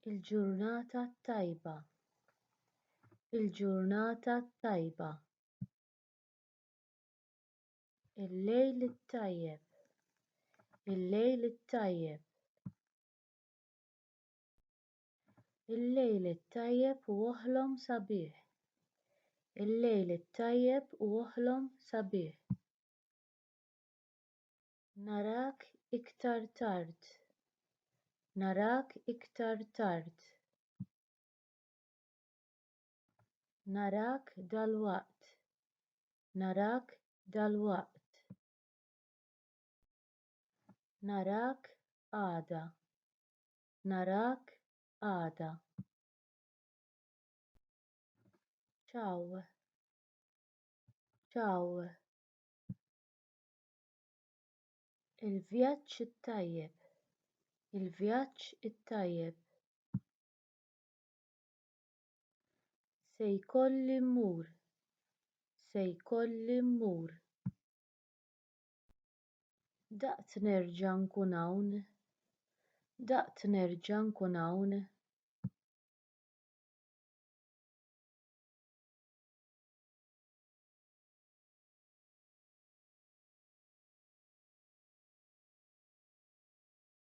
il-ġurnata t-tajba il-ġurnata t-tajba il-lejl it-tajjeb il-lejl it-tajjeb Il-lejl it-tajjeb u oħlom sabiħ. Il-lejl it-tajjeb u oħlom sabiħ. Narak iktar tard. Narak iktar tard. Narak dalwaqt. Narak dalwaqt. Narak għada. narak għada. Ciao. Ciao. Il-vjaġġ it-tajjeb. Il-vjaġġ it-tajjeb. Se jkolli mmur. Se jkolli mmur. Daqt nerġa' nkun hawn. Daqt nerġa' nkun hawn.